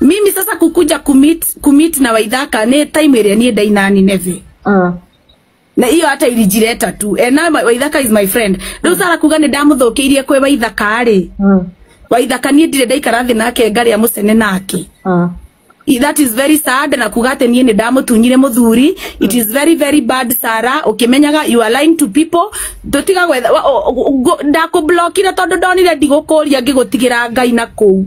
mimi sasa kukuja kumit kumit na waidhaka ni time ĩrĩa niĩ ndai na nineve Mm. na iyo hata ilijireta tu and now my- waithaka is my friend riu sara kuga ni ndamuthukiirie kwi waithaka ri Mm. waithaka nie ndire ndaikara thi nake ngaria mucene nake Mm. I- that is very sad na kuga ati nie ni ndamutunyire muthuri it is very very bad sara ukimenyaga you are lying to people tutiga gwetha wa- o- o- go- ndakublockire tondu ndonire ndigukuria ngigutigira ngai na kuu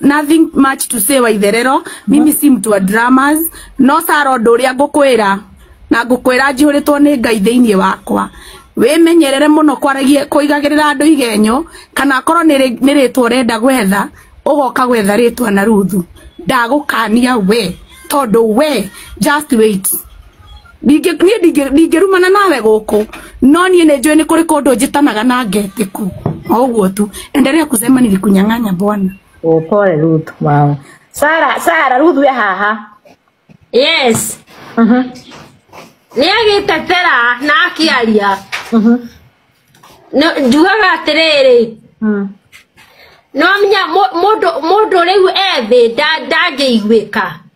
nothing much to say waitherero mimi si mtu wa dramas no saro ndu uria ngukwira na ngukwira njihuritwo ni ngai thiini wakwa wimenyerere muno kwaragia kuigagirira andu igenyo kana akorwo ni ritwa urenda gwetha ugoka gwetha ritwa na ruthu ndagukania we tondu we just wait ndingĩ niĩ ndingĩ ndingĩrumana nawe gũkũ no niĩ nĩ njũĩ nĩ kũrĩ kũndũ njĩtanaga na ngetiku o ũguo tu endelea kusema nilikunyang'anya bwana Oh, pole Ruth mama. Sara, Sara Ruth we haha. yes Mhm. nä agä tetera na akä aria Mhm. njugaga atä rä rä Mm. no menya må ndå rä u ethä ndangä iguä ka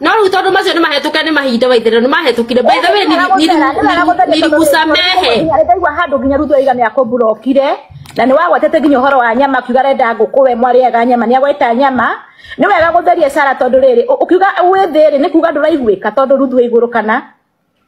no rä u tondå macio nä mahetåke nä mahinda waithä nä mahetåkire nirikusamehe ndaigua handå nginya rutwo igana ya kũmburokire na nĩ wagwetete nginya ũhoro wa nyama kiuga renda ngũkũ we mwarĩaga nyama nĩ agweta nyama nĩ wega gũtheria sara tondũ rĩrĩ ũkiuga wĩ thĩ rĩ nĩ kuga ndũraiguĩka tondũ ruthu igũrũ kana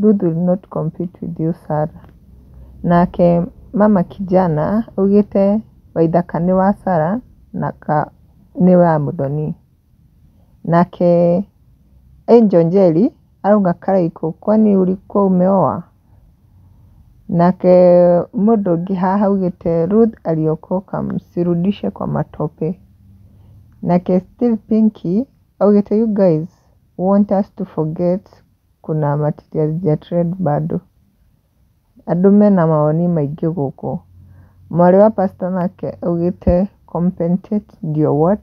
Ruth will not compete with you Sarah nake mama kijana augĩte waithaka nĩ wa Sarah na ka nĩ wa mũthoni, nake Angel Njeri arauga karaikũ kwani ũrikũ ũmeowa? nake mũndũ ũngĩ haha augĩte Ruth aliokoka msirudishe kwa matope, nake Steve Pinky augĩte you guys want us to forget kuna material hazija trend bado. Andũ mena mawoni maingĩ gũkũ. Mwarĩ wa pastor nake augĩte compensate ndio what?